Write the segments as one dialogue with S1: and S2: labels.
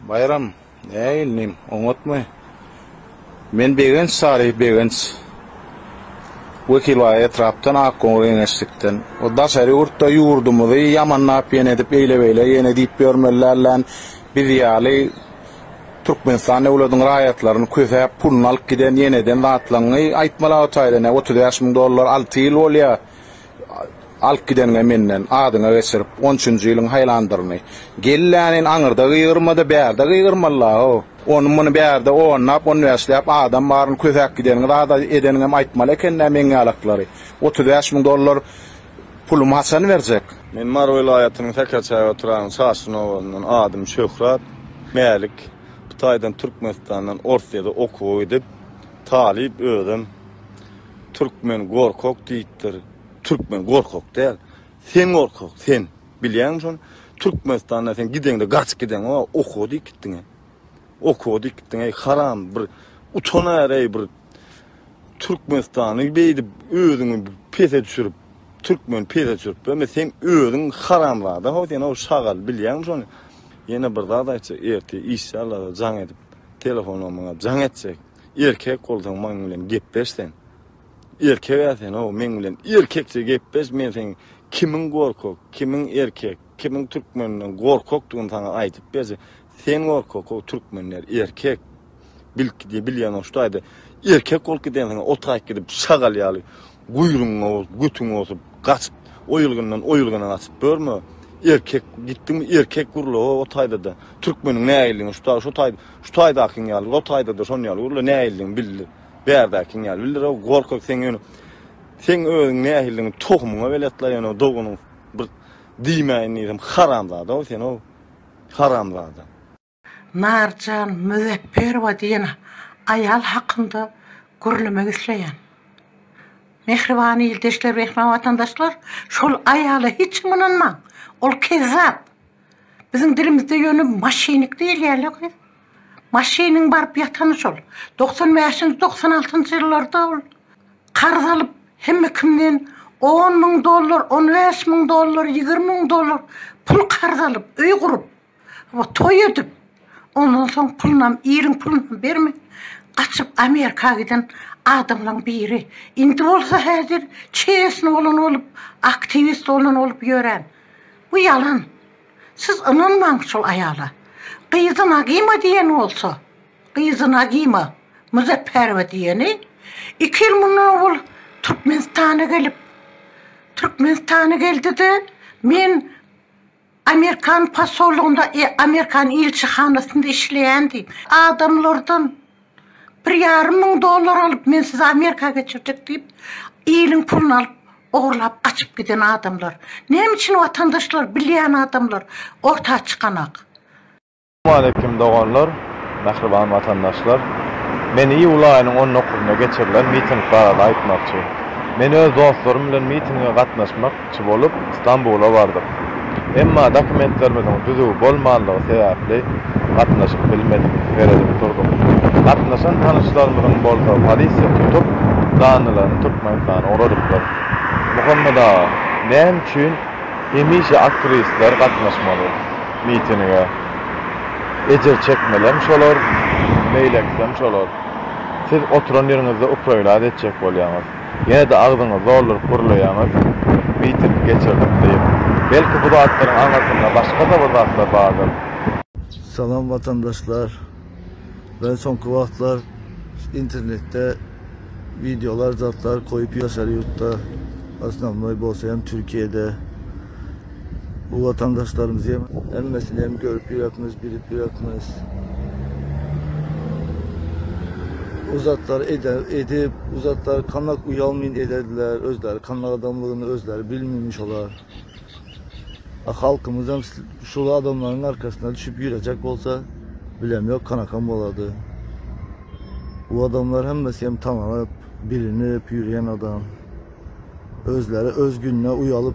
S1: Baýram, Äý inim, oňatmy? Men Begenç Saryh Begenç. Wekil baý etrapdan Akgoňur geňeşlikden. O daşary ýurtda ýurdumyzy ýamanlap ýene edip eýle beýle ýene diýip ýörmeli dälläň. Biz ýaly Türkmenistan döwlediň raýatlaryny kösäp puluny alyp giden ýeneden zatlaňňy aýtmala o taýdan ýa otuz bäş müň dollar alty ýyl bolýa Alyp gideniňe menden adyňa geçirip, on üçünji ýylyň haýlandyryny. Gellänin aňyrda gygyrma-da, bärde gygyrmaly-la-how. Ony-muny bärde onlap, on bäşläp adam baryny kösäp gideniňi zada edeniňem aýtmaly eken-dä meňňälaklary. Otuz bäş müň dollar pulumy haçan berjek? Men Mary welaýatynyň
S2: Säkerçäge oturan Çaşgyn obasyndan. Adym Şöhrat. Mälik. Bu taýdan Türkmenistandan Orsýede okuwa gidip, talyp özüm. Türkmen gorkak diýipdir. Türkmen gorkak däl. Sen gorkak, sen. Bilýäňmi şony? Türkmenistanda sen gideňde gaçyp gideňok, a okuwa diýip gitdiň-ä. Okuwa diýip gitdiň, eý, haram, bir utan äreý, bir Türkmenistany beýdip özüňi pese düşürip, türkmeni pese düşürip ýörme, sen özüň haramzada, ho, sen, ho, şagal, bilýäňmi şony? Ýene bir zat aýtjak, ertir işe alada jaň edip, telefonam maňa jaň etjek. Erkek bolsaň maň bilen gepleş sen. Erkega sen o meň bilen erkekçe gepleş men seň kimiň gorkak kimiň erkek kimiň türkmenden gorkakdygyny saňa aýdyp berje sen gorkak o türkmenler erkek bilkide bilýän oştaýda erkek bolup giden sen otaýyp gidip şagal ýaly Guýrugyň bolup, götüň bolup gaçyp, o ýylgyndan, o ýylgyna gaçyp ýörme. Erkek gitdiňmi, erkek gürle, o, o taýda-da. Türkmeniň näildigiňi şu taý, şu taý, şu taýdakyň ýaly, o taýda-da şonuň ýaly gürle, näildigiňi bildir. Bärdäkiň ýaly bildir, o, gorkak sen ýöne. Seň özüň nähildigiňi tohumyňa belet la, ýöne o doganyň bir diýmäýin diýsem, haramzada-ow sen, ow, haramzada.
S3: Narjan Müzepperowa diýen aýal hakynda gürlemek isleýän. Mähriban ildeşler, mähriban watandaşlar, şol aýala hiç kim ynanmaň. Ol kezzap. Biziň dilimizde ýöne maşynik diýilýärle gyz. Maşynyň baryp ýatany şol. Togsan bäşinji, togsan altynjy ýyllarda ol karz alyp, hemme kimden on müň dollar, on bäş müň dollar, ýigrimi müň dollar pul karz alyp, öý gurup, Wah toý edip ondan soň pulynam iliň pulunam bermän gaçyp Amerika giden adamlaň biri indi bolsa häzir çesny bolan bolup aktiwist bolan bolup ýören bu ýalan siz ynanmaň şol aýala gyzy nagyma diýen bolsa gyzy nagyma muzeppärowa diýeni iki ýyl mundan owal türkmenistana gelip türkmenistana geldide men Amerikan posollygynda, amerikan ilçihanasynda işleýändim. Adamlardan bir ýarym müň dollar alyp, men sizi Amerika geçirjek diýip, iliň puluny alyp, ogurlap gaçyp giden adamlar. Näme üçin watandaşlar, bilýän adamlar orta çykanak? Salamaleýkim
S4: doganlar, mähriban watandaşlar! Men iýul aýynyň on dokuzynda geçirilen miting barada aýtmakçy. Men öz dostlarym bilen mitinge gatnaşmak çy bolup Stambula bardyk. Emma dokumentlerimiziň düzüw bolmanlygy sebäpli gatnaşyp bilmedik, seredip durduk. Gatnaşan tanyşlarymyzyň bolsa polisiýa tutup, janlylaryny Türkmenistana ugradypdyr. Muhammet aga, näme üçin hemişe aktiwistler gatnaşmaly? mitinige. Ejir çekmelem şolar, meýil etsem şolar. Siz oturan ýeriňizde uprolaz etjek bolýaňyz. Ýene-de agzyňyzy dolduryp gürleýäňiz, miting geçirdik diýip. Belki bu zatlaryň aňyrsynda başga-da bir zatlar bardyr. Salam
S5: watandaşlar. Men soňky wagtlar internetde wideolar zatlar koýup ýaşar ýurtda osnovnoý bolsa hem türkiýede bu watandaşlarymyzy hem hemmesini hem görüp ýörekmiz bilip ýörekmiz bu zatlar eder edip bu zatlar kanak uýalmyn ederdiler özleri kanak adamlygyny özleri bilmimi şolar. A halkymyzam şul adamlaryň arkasyna düşüp ýürejek bolsa bilem ýok kanakam bolady. Bu adamlar hemmesi hem tananyp, bilinip ýürýän adam. Özleri öz gününe uýalyp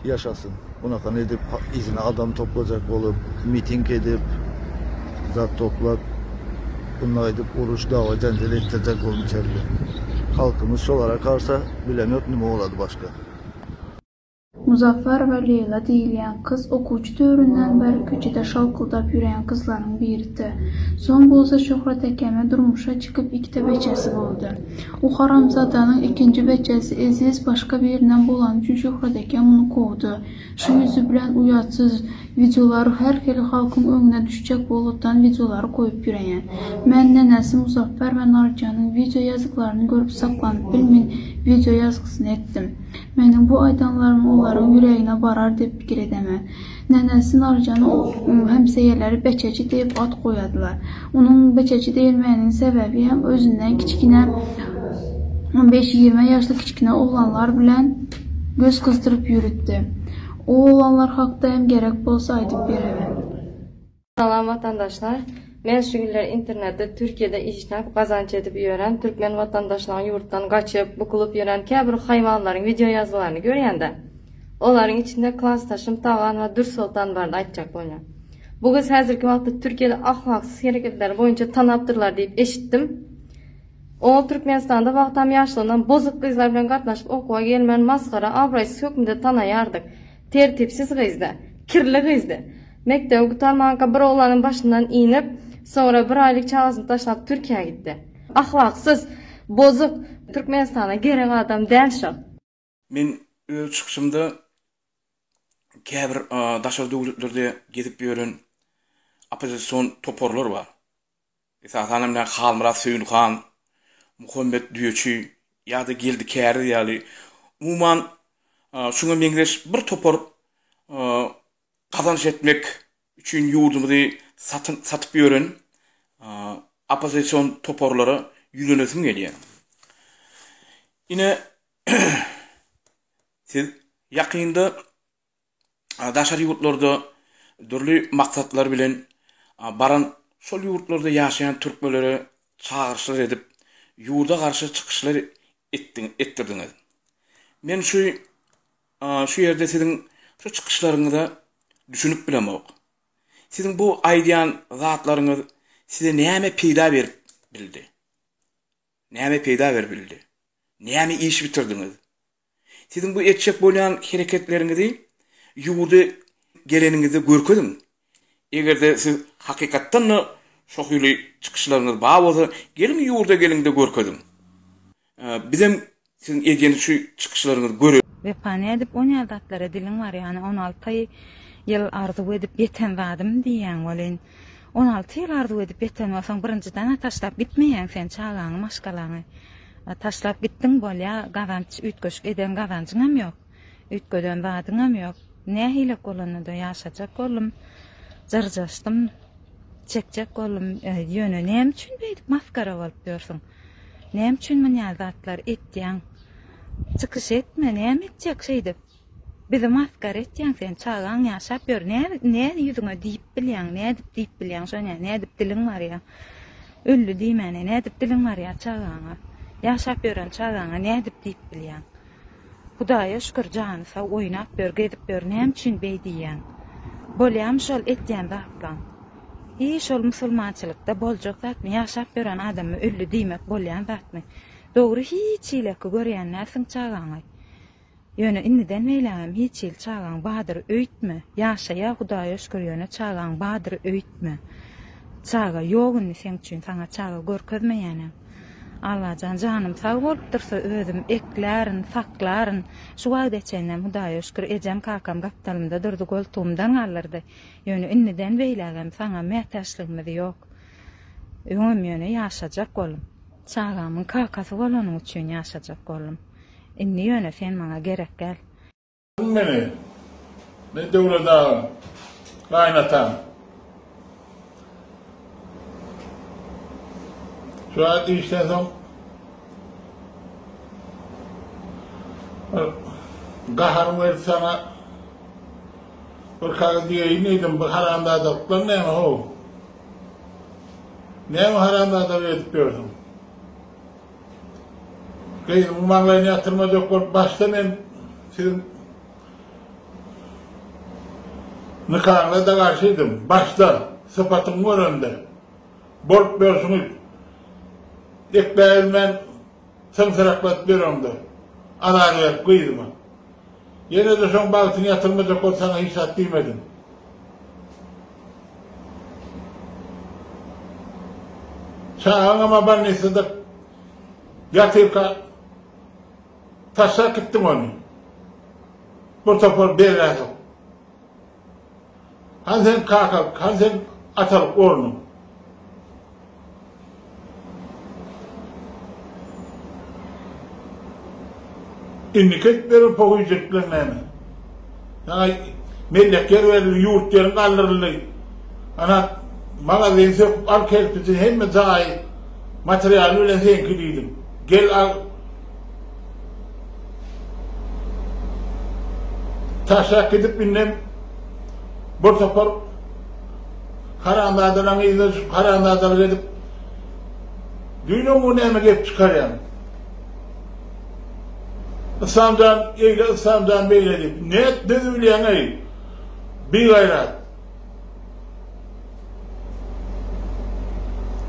S5: ýaşasyn. Bunakan edip yzyna adam toplajak bolup, miting edip, zat toplap bunda gaýdyp uruş, dawa, jenjel etdirjek bolmuşerdi. Halkymyz şolara karsa bilem ýok nime bolady başga. Muzaffer
S6: we Leýla diýilýän gyz okuwçy döwründen bäri köçede şalkyldap ýürýän gyzlaryň biridi. Soň bolsa Şöhrat ekeme durmuşa çykyp ikide beçesi boldy. U haramzadanyň ikinji beçesi Eziz başga birinden bolany üçin Şöhrat eke muny kowdy. Şu ýüzi bilen uýatsyz. Wideolar her hili halkyň öňüne düşjek bolutdan wideolary goýup ýöreýän. Men nenesi Muzaffer we Narjanyň wideo ýazyklaryny görüp saklanyp bilmin wideo ýazgysyny etdim. Meniň bu aýdanlarym olaryň ýüregine barar diýip pikir edemen. Nenesi Narjana hemseýeleri Beçeji diýip at goýadylar. Onuň Beçeji diýilmeginiň sebäbi hem özünden kiçkine on beş-ýigrime ýaşly kiçkine oglanlar bilen göz gyzdyryp ýürütdi. U oglanlar hakda hem gerek bolsa aýdyp bererin. Salam
S7: watandaşlar. Men şu günler internetde Türkiýede işläp gazanç edip ýören türkmen watandaşlaryň ýurtdan gaçyp, bukulyp ýören käbir haýwanlaryň wideo ýazgylaryny görýände. Olaryň içinde klasdaşym Tagan we Dürsoltan barada aýtjak bolýan. Bu gyz häzirki wagtda Türkiýede ahlaksyz hereketleri boýunça tanapdyrlar diýip eşitdim. Oňa Türkmenistanda wagtam ýaşlygyndan bozuk gyzlar bilen gatnaşyp okuwa gelmän masgara, abraýsyz hökmünde tanaýardyk. Tertipsiz gyzdy. Kirli gyzdy. Mekdebi gutarmanka bir oglanyň başyndan inip, soňra bir aýlyk çagasyny taşlap Türkiýä gitdi. Ahlaksyz, bozuk, Türkmenistana gerek adam däl şol. Men
S8: öz çykyşymda käbir daşary döwletlerde gezip ýören oppozision toparlar bar. Esasan hem Halmyrat Söýünhan, Muhammet Düýeçi ýa-da Geldi Käriz ýaly umuman şuňa meňzeş bir topar gazanç etmek üçin ýurdumyzy satyn satyp ýören oppozision toparlara ýüzlenesim gelýär. Ine Siz ýakynda daşary ýurtlarda dürli maksatlar bilen baran şol ýurtlarda ýaşaýan türkmenlere çagyryşlar edip, ýurda garşy çykyşlar etdirdiňiz. Men şu şu ýerde siziň şu çykyşlaryňyza düşünip bilemok. Siziň bu aýdýan zatlaryňyz size näme peýda berip bildi? Näme peýda berip bildi? Näme iş bitirdiňiz? Siziň bu etjek bolýan hereketleriňizi ýurda geleniňizde görkeziň. Eger-de siz hakykatdan-da şo hili çykyşlaryňyz bar bolsa, geliň ýurda geliňde görkeziň. Bizem Siziň edýän şu çykyşlaryňyzy göre. Wepa nädip on
S9: ýaly zatlara diliň bar ýany on alty ýyl arzuw edip ýeten zadym diýýäň welin on alty ýyl arzuw edip ýeten bolsaň birinjidana taşlap gitmeýäň sen çagaňy maşgalaňy taşlap gitdiň bolýa gazanç üýtgeşik eden gazanjyňam ýok. Üýtgeden zadyňam ýok. Nähilek bolanda-da ýaşajak boldum. Jyrjaşdym. Çekjek boldum. Ýöne näme üçin beýdip masgara bolup ýörsüň? Näme üçin munýa zatlar etýäň? Çykyş etme, näme etjek şeýdip? Bizi masgara etýäň sen, çagaň ýaşap ýör, nä nä ýüzüňe diýip bilýäň, nädip diýip bilýäň şonä, nädip diliň barýa? Öldi diýmäne, nädip diliň barýa çagaňa? Ýaşap ýören çagaňa nädip diýip bilýäň? Hudaýa şükür jany sag oýnap ýör gezip ýör näme üçin beý diýýäň. Bolýamy şol etýän zatlaň. Hi şol musulmançylykda boljak zatmy ýaşap ýören adamy ölli diýmek bolýan zatmy. Dogry hiç hileki görýän dälsiň çagaňy. Ýöne indiden beýlägem hiç hili çagaň badyr öýtme. Ýaşaýa hudaýa şükür ýöne çagaň badyr öýtme. Çaga ýok indi seň üçin saňa çaga görkezmeýänem. Allajan janym sag bolup dursa özüm eklärin saklaryn şu wagta çenlem hudaýa şükür ejem kakam gapdalymda durdy goltugymdan galdyrdy ýöne indiden beýlägem saňa mätäçligimiz ýok öňem ýöne ýaşajak boldum çagamyň kakasy bolanyň üçin ýaşajak boldum indi ýöne sen maňa gerekdäl. Aýdyň meni,
S10: men Döwlet aga, gaýynataň. Şular diýişden soň gahar berip saňa bir kagyz diýeýin diýdim, bu haramzadalyklar näme how? Näme haramzadalyk edip ýörsüň? Gyzyň maňlaýyny ýatyrmaz ýok bolup başda men siziň nikaňyza-da garşydym. Başda, sypatyňy görende. Bolup ýörşüňiz. Ekläbilmän syňsyrakladyp ýöreňde. Azar berip gyzyma. Ýene-de şoň bagtyny ýatyrmajak bol, saňa hiç zat diýmedim. Çagaňam-a bolnisada ýatyrka taşlap gitdiň ony. Bir topar bergädok. Hany seniň kakalyk, hany seniň atalyk ornuň? Indiki edip beren pohyjylyklaryň näme? Saňa mellek ýer berildi, ýurt ýeriň galdyryldy. Ana, magazyny söküp al, kerpijini, hemme jaýy, materialy bilen seňki diýdim. Gel al, Taşak gidip indem bir topar haramzadalaryň yzyna düşüp haramzadalyk edip Düýnem bu näme gep çykarýaň? Yslamjan eýle, Yslamjan beýle diýip, ne etdi bilýäň-eý? Bigaýrat.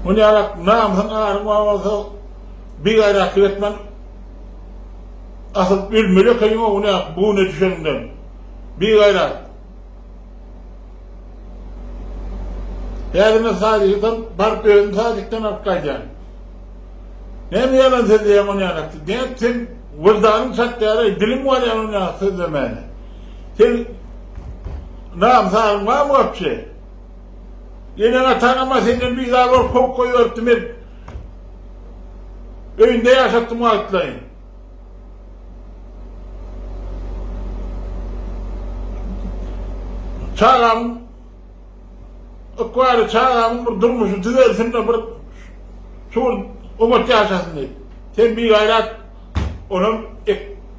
S10: Ony ýalak, namysyň aryň bar bolsa, bigaýratlyk etmän, asyl ölmeli ekeniň oguny ýalak, bu güne düşeniňden. Bigaýrat. Häzir men sadikden baryp özüm sadikden alyp gaýdýan. Näme ýalan sözleýäň ony ýalak, nätsin, wyldanyň çatýar-aý, diliň barýan ony ýalak sözlemäne. Seň nam-sagyň barmy wapşe? Eneň-ataňam-a senden bizar bolup kowup goýberipdi, men öýünde ýaşatdym wagtlaýyn. Çagamyň ykbaly, çagamyň bir durmuşy düzelsin-de, bir şugur, oňat ýaşasyn diýip. Sen bigaýrat. Onam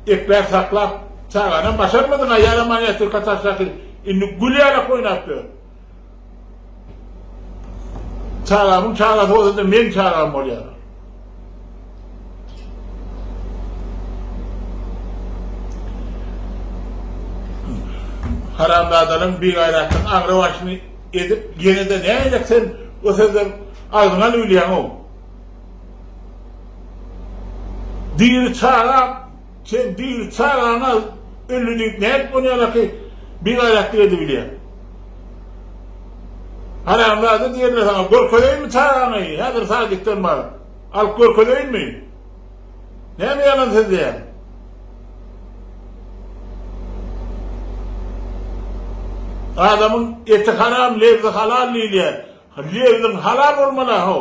S10: ekmän saklap, çaganam başarmadyň-a, ýalam miniatýurka taşlasyň, indi gül ýalak oýnap ýör. Çagamyň çagasy bolsa-da meň çagam bolýar. Haramzadalaryň bigaýratlygyň aňrybaşyny edip, ýene-de nädip sen o sözleri agzyňa alyp bilýäň-ow? Diri çaga sen diri çagaňa ölli diýip nädip ony ýalaky bigaýratlyk edibilýäň. Haramzada diýenler saňa görkezeýinmi çagaňy häzir sadikden baryp. Alyp görkezeýinmi. Näme ýalan sözleýäň. Adamyň eti haram lebzi halal diýilýär. Lebziň halal bolmaly aho.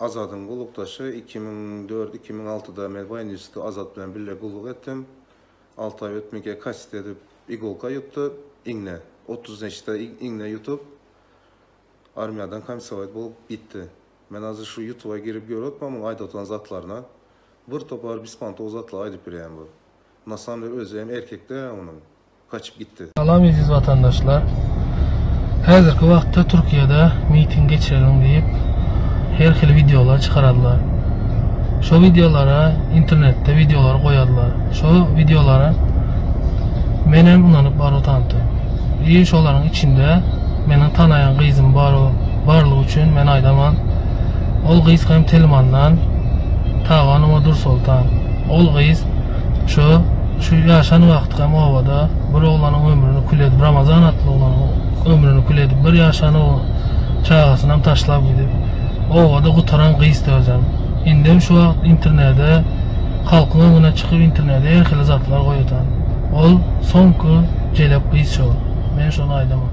S11: Azadyň gullukdaşy, iki müň dört-iki müň altyda men Waýn Nýusta Azat bilen bille gulluk etdim. Alty aý ötmänkä kasseti edip igolka ýutdy, iňňe. Otuz neçede iňňe ýutup, armiýadan komisowat bolup gitdi. Men azir şu ýutuba girip ýöretmä muň aýda oturan zatlaryna. Bir topar bispantog zatlar aýdyp bileýän bu. Na samde özi hem erkek dälä onuň. gaçyp gitdi. Salam eziz watandaşlar.
S12: Häzirki wagtda Türkiýede miting geçiriň diýip her hili wideolar çykararlar. Şo wideolara internetde wideolary goýarlar. Şo wideolara menem ynanyp baryp otantym. I şolaryň içinde meniň tanaýan gyzym bar barlygy üçin men aýdaman. Ol gyz hem Telmandan Taganova Dursoltan. Ol gyz Şu şu ýaşan wagtkam obada bir oglanyň ömrüni kül edip Ramazan atly oglanyň ömrüni kül edip bir ýaşan çagasynam taşlap gidip obada gutaran gyzdy özem. Indem şu wagt internede halkyň öňüne çykyp internede her hili zatlar goýadan. Ol soňky jelep gyz şo. Men şony aýdamok.